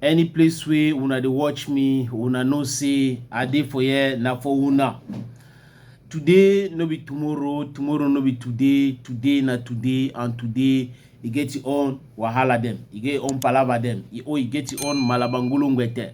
any place wey una dey watch me una know say i dey for here na for una today no be tomorrow tomorrow no be today today na today and today e get e own wahala dem e get e own palava dem e, oh, e get e own malabangolongwete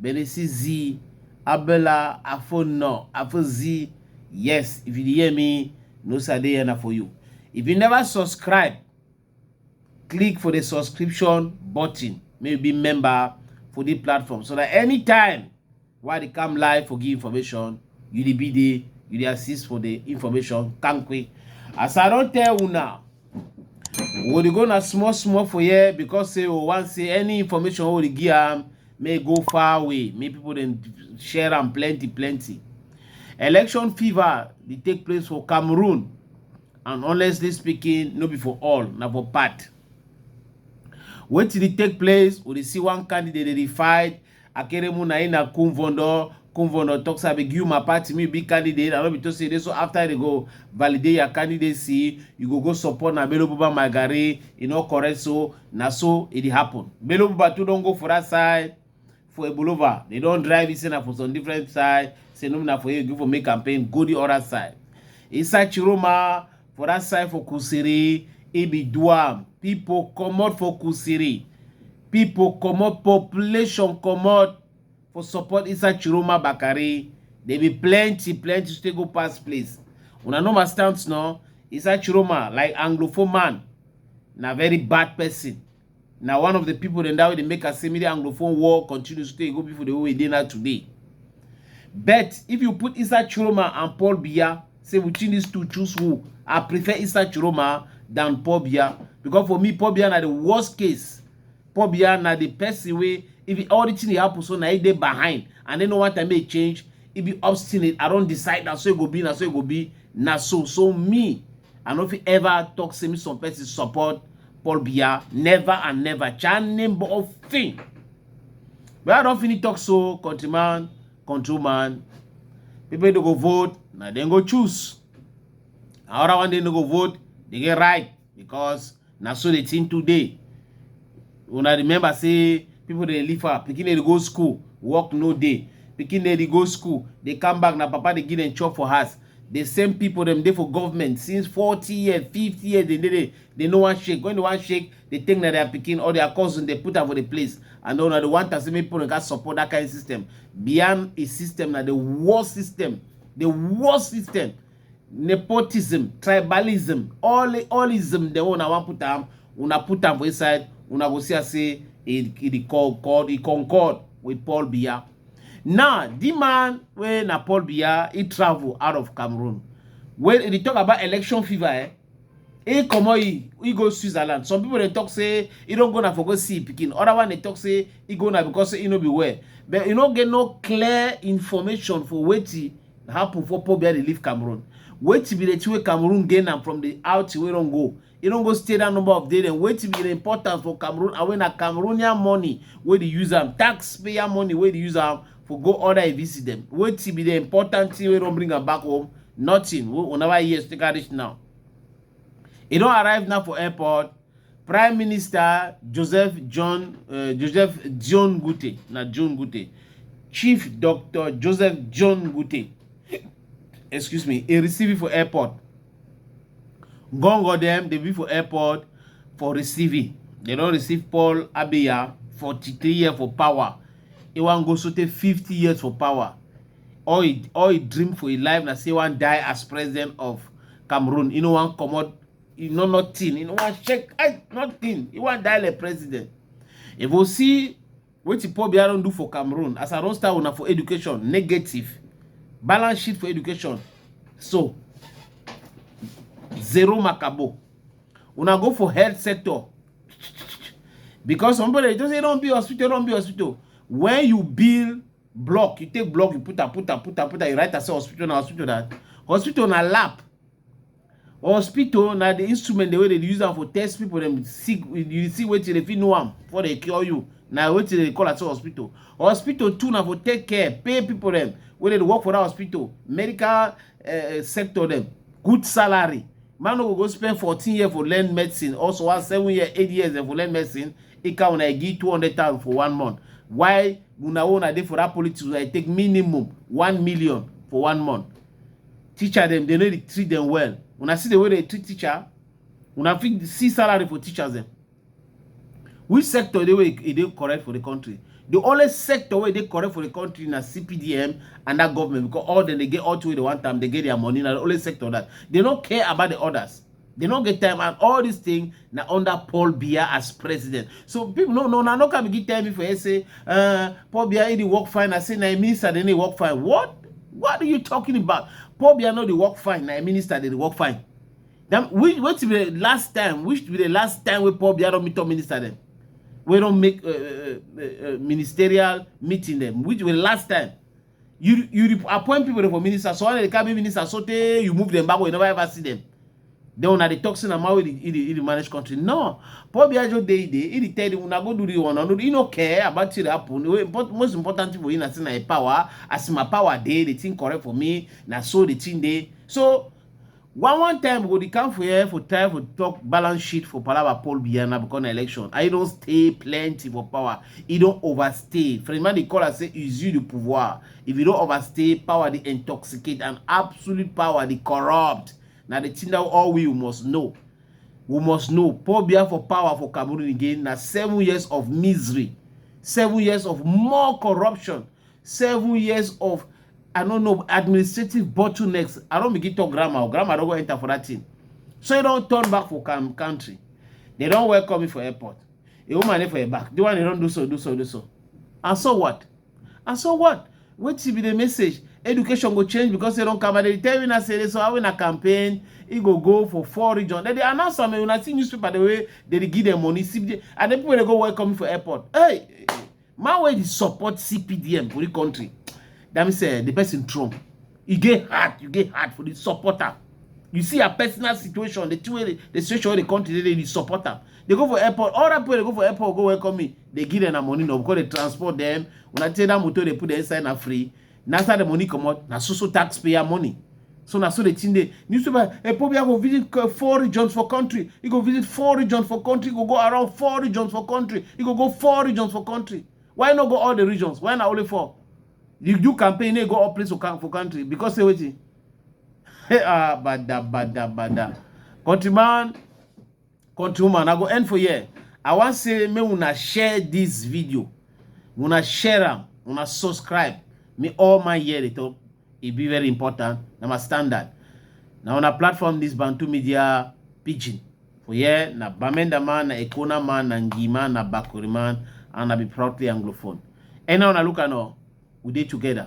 Belesi zi, Abela, Afo no, Afo zi. Yes, if you hear me, no say I dey here for you. If you never subscribe, click for the subscription button. Maybe member for the platform so that anytime why they come live for give information, you the be the you the assist for the information. Thank you. As I don't tell you now. we dey go na small small for here because say we wan say any information wey we dey give am may go far away make people dem share am plenty plenty election fever dey take place for cameroon and honestly speaking no be for all na for part wetin dey take place we dey see one candidate dey dey fight akere mu na ina kunvondo kunvondo talk say abeg you my party me be candidate i no be to say dey so after they go validate your candidacy you go go support na bello buba my garri e no correct so na so e dey happen bello buba too don go for that side for ebulova they don drive you say na for some different side say no na for you go for make campaign go the other side inside chiroma for that side for kusiri e be duam people comot for kusiri Pipo comot population comot for support inside Chiroma Bakare. There be plenty, plenty stay go pass place. Una know my stance no? Inside Chiroma, like Anglophone man, na very bad person. Na one of the people dem that way dey make us say make the Anglophone war continue stay go before the way e dey now today. But if you put inside Chiroma and Paul Biya, say we choose these two choose who i prefer isa chiroma than paul biya because for me paul biya na the worst case paul biya na the person wey if e, all the thing dey happen so na he dey behind and then no one time make change e be obstinate i don decide na so e go be na so e go be na so so me i no fit ever talk say me some person support paul biya never and never chan name of thing but i don finish talk so countryman control man people wey no go vote na dem go choose na other one dey no go vote dey get right because na so the thing too dey una remember say people dey live far pikin dey go school work no dey pikin dey go school dey come back na papa dey give dem chop for house the same people dem dey for government since forty years fifty years dem dey there dem no wan shake when dem wan shake dey take na their pikin or their cousin dey put am for the place and una dey want am say make people gats support that kind system beyond a system na the worst system the worst system nepotism tribalism all allism dem una wan put am una put am for inside una go see am say e e dey call call e concord with paul biya now the man wey na paul biya he travel out of cameroon when e dey talk about election fever eh He comot he, he go Switzerland. Some people they talk say he don't go na for go see picking. Other one they talk say he go na because he no be well. But you no get no clear information for wetin happen for Paul Biya dey leave Cameroon. Wetin be the thing wey Cameroon gain am from the out wey don go. He don go stay that number of days. Then wetin be the importance for Cameroon and when na Cameroonian money wey dey use am, taxpayer money wey dey use am for go order a visit them. Wetin be the important thing wey don bring am back home nothing wey una never hear still reach now e don arrive now for airport prime minister joseph john uh, joseph john gute na john gute chief dr joseph john gute excuse me e receive for airport gongo dem dey be for airport for receiving dem don receive paul abiya 43 years for power e wan go sotey 50 years for power all e all e dream for e life na say one die as president of cameroon e no wan comot e no nothing e no wan shake eye nothing e wan die like president if you see wetin paul biya don do for cameroon as i don start una for education negative balance sheet for education so zero makabo una go for health sector because some people dey just say don be hospital don be hospital when you build block you take block you put am put am put am put am you write am say hospital na hospital na hospital na lab hospital na the instrument the way they use am for test people dem see you see wetin dey fit know am before they cure you na wetin dey call am say hospital hospital too na for take care pay people dem wey dey work for that hospital medical uh, sector dem good salary man no go go spend fourteen years for learn medicine also one seven year eight years dem for learn medicine e count na e give two hundred thousand for one month why una own i dey for that politics wey i take minimum one million for one month teacher dem dey no dey treat dem well una see the way dey treat teacher una fit see salary for teachers dem which sector dey wey e dey correct for the country the only sector wey dey correct for the country na cpdm and that government because all dem dey get all two wey dey one time dey get their money na the only sector that they no care about the others They no get time and all this thing na under Paul Biya as president. So people no no na no come give tell me for say uh, Paul Biya he dey work fine. I say na minister they dey work fine. What? What are you talking about? Paul Biya no dey work fine. Na minister they dey work fine. Then which what be the last time? Which be the last time we Paul Biya don meet up minister them? We don't make uh, uh, uh, uh, ministerial meeting them. Which be the last time? you you dey appoint people for minister so they carry minister so tey you move them back you never ever see them then una dey talk say na man wey dey manage country no Paul Biya just dey dey he dey tell you una go do the one no he no care about wetin dey happen wey most important thing for him na say na him power as my power dey the thing correct for me na so the thing dey so One one time we go dey come for here for time for talk balance sheet for palava Paul Biya na because na election. I don stay plenty for power. He don overstay. Frenchman dey call am say usure de pouvoir. If you don overstay, power dey intoxicate and absolute power dey corrupt. Na the thing that all we must know. We must know Paul Biya for power for Cameroon again na seven years of misery, seven years of more corruption, seven years of i no know administrative bottlenecks i don begin talk grammar grammar don go enter for that thing so e don turn back for country they don welcome me for airport a woman dey for your back the one dey don do so do so do so and so what and so what wetin be the message education go change because they don come and they tell you na say so how una campaign e go go for four region dem dey announce am una see newspaper the way they dey give them money see and the people dey go welcome me for airport hey man wey dey support cpdm for the country that means uh, the person trump e get hard you get hard for the supporter you see her personal situation the two way the, the situation wey the country dey dey the supporter they go for airport all that people dey go for airport go welcome me they give them na money no because they transport them una take that motor they put them inside na free na after the money comot na so so taxpayer money so na so the thing dey newspaper epobi eh, go visit eh, four regions for country e go visit four regions for country e go go around four regions for country e go go four regions for country why no go all the regions why na only four you do campaign you go all place for country because say wetin ah bada bada bada countryman countrywoman i go end for here i wan say make una share this video una share am una subscribe me all my year dey talk e be very important na my standard na una platform this bantu media pidgin for here na bamenda man na ekona man na ngima na bakuri man and i be proudly anglophone and now una look at now we dey together.